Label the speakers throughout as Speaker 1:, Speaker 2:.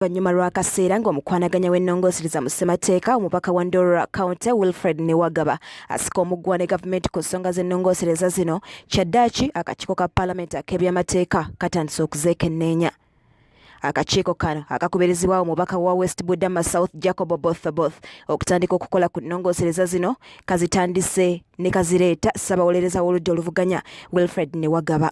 Speaker 1: Oluvannyuma lw'akaseera ng'omukwanaganya w'ennongosereza mu ssemateeka omubaka wa Ndorora County Wilfred Niwagaba asika omuguwa ne gavumenti ku nsonga z'ennongosereza zino, kyaddaaki akakiiko ka paalamenti ak'ebyamateeka katandise okuzeekenneenya. Akakiiko kano akakubirizibwa omubaka wa West Budama South Jacob Oboth Oboth okutandika okukola ku nnongosereza zino kazitandise ne kazireeta ssabawolereza w'oludda oluvuganya Wilfred Niwagaba.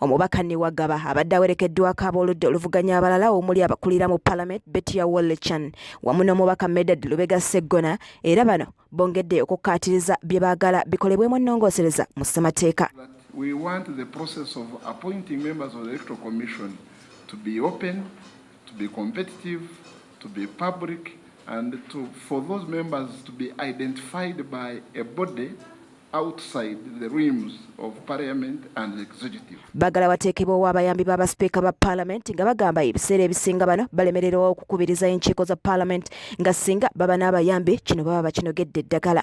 Speaker 2: Omubaka Niwagaba
Speaker 1: abadde awerekeddwako ab'oludda oluvuganya abalala omuli abakulira mu Palamenti Betia Wollechan wamu n'omubaka Medard Lubega Sseggona era bano bongedde okukkaatiriza bye baagala bikolebwemu ennongoosereza mu ssemateeka.
Speaker 2: to be open, to be competitive, to be public, and to, for those members to be identified by a body Bagala wateekebwewo
Speaker 1: abayambi b'abasipiika ba palamenti nga bagamba ebiseera ebisinga bano balemererwawo okukubiriza enkiiko za palamenti nga singa baba n'abayambi kino baba bakinogedde eddagala.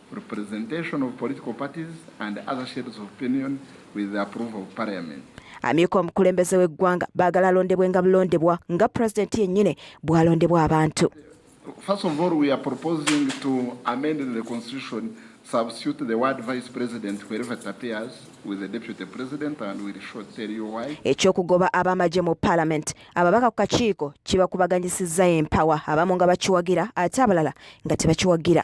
Speaker 2: representation of political parties and other shades of opinion with the approval of parliament. Amyuka omukulembeze
Speaker 1: w'eggwanga baagala alondebwe nga bulondebwa nga president yennyini bw'alondebwa abantu. First of
Speaker 2: all, we are proposing to amend the constitution, substitute the word vice president wherever it appears with the deputy president and we'll show tell you why. Ekyokugoba abamaje
Speaker 1: mu parliament ababaka ku kakiiko kibakubaganyisizza empawa abamu nga bakiwagira ate abalala nga tebakiwagira.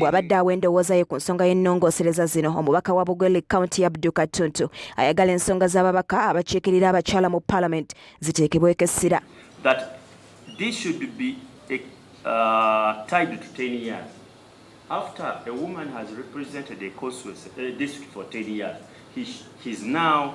Speaker 3: bw'abadde awa endowooza
Speaker 1: ye ku nsonga y'ennongoosereza zino omubaka wa bugweli kaunti ya bduka ttuntu ayagala ensonga z'ababaka abakiikirira abakyala mu palamenti ziteekebweko essira
Speaker 4: After a woman has represented a constituency, a district for 10 years, he, he's now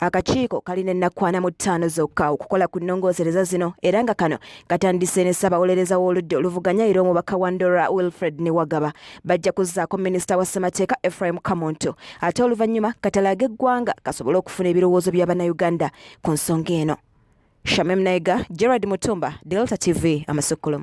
Speaker 1: Akakiiko kalina ennakkwana mu ttaano zokka okukola ku nnongoosereza zino era nga kano katandise ne ssabawolereza w'oludda oluvuganya era omubaka wa Ndora Wilfred Niwagaba bajja kuzzaako minisita wa ssemateeka Ephraim Kamuntu ate oluvannyuma katalaaga eggwanga kasobole okufuna ebirowoozo bya Bannayuganda ku nsonga eno. Shamim Naiga, Gerard Mutumba, Delta TV, Amasukkulumu.